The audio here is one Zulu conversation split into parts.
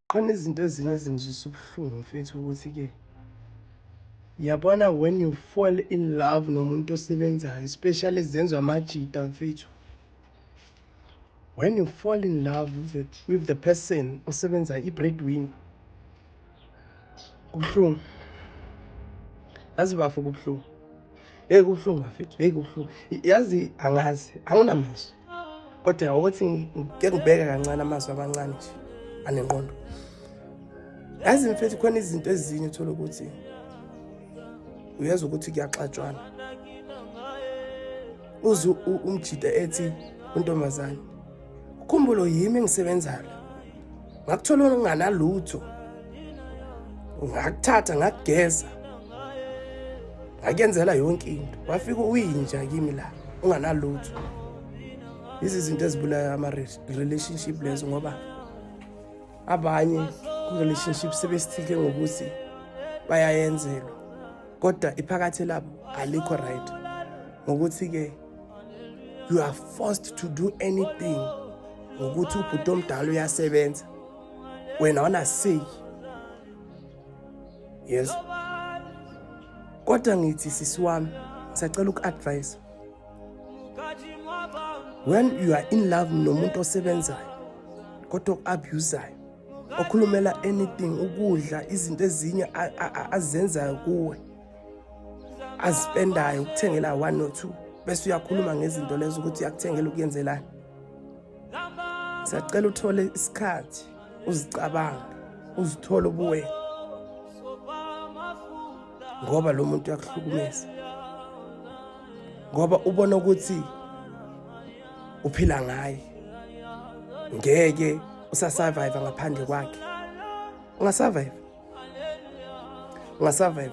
Khona izinto ezinye ezingizwisa ubuhlungu mfethu ukuthi-ke yabona when you fall in love nomuntu osebenzayo especially zenziwa amajita mfethu when you fall in love with the, with the person osebenzayo i-breadwinner Kubuhlungu. Yazi bafo kubuhlungu. Hey kubuhlungu bafethu. Hey kubuhlungu. Yazi angazi, anginamazwi. Kodwa ukuthi ngike ngibheke kancane amazwi amancane nje anenqondo. Yazi mfethu khona izinto ezinye uthola ukuthi uyezwa ukuthi kuyaxatshwana. Uze umjida ethi untombazane ukhumbulo yimi engisebenzayo ngakuthola nginganalutho ngakuthatha ngakugeza ngakuyenzela yonke into wafika uyinja kimi la unganalutho izi zinto ezibulaya ama-relationship lezo ngoba abanye ku-relationship sebesithike ngokuthi bayayenzelwa kodwa iphakathi labo alikho right ngokuthi-ke you are forced to do anything ngokuthi ubhuti omdala uyasebenza wena wanaseyi yes kodwa ngithi sisi wami ngisacela uku-advise when you are in love nomuntu osebenzayo kodwa oku-abusayo okhulumela anything ukudla izinto ezinye azenzayo kuwe azispendayo ukuthengela one or two bese uyakhuluma ngezinto lezo ukuthi uyakuthengela ukuyenzelani siyacela uthole isikhathi uzicabange uzithole ubuwena ngoba lo muntu uyakuhlukumeza ngoba ubona ukuthi uphila ngaye ngeke usasurvive ngaphandle kwakhe ungasurvive ungasurvive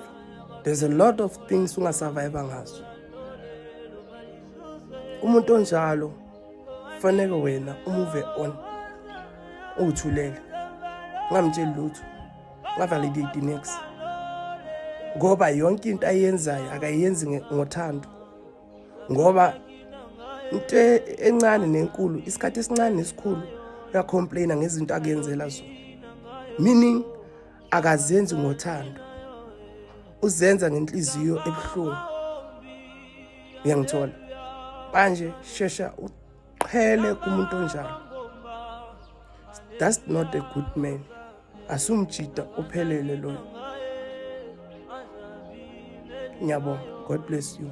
there's a lot of things ungasurvive ngazo umuntu onjalo faneke wena umuve on uthulele ngamtsheli lutho ngavalidate next ngoba yonke into ayenzayo akayenzi ngothando ngoba into encane nenkulu isikhathi esincane nesikhulu uyacomplaina ngezinto akuyenzela zona meaning akazenzi ngothando uzenza ngenhliziyo ebuhlungu uyangithola manje shesha uqhele kumuntu onjalo that's not a good man asumjita uphelele loyo ngiyabonga god bless you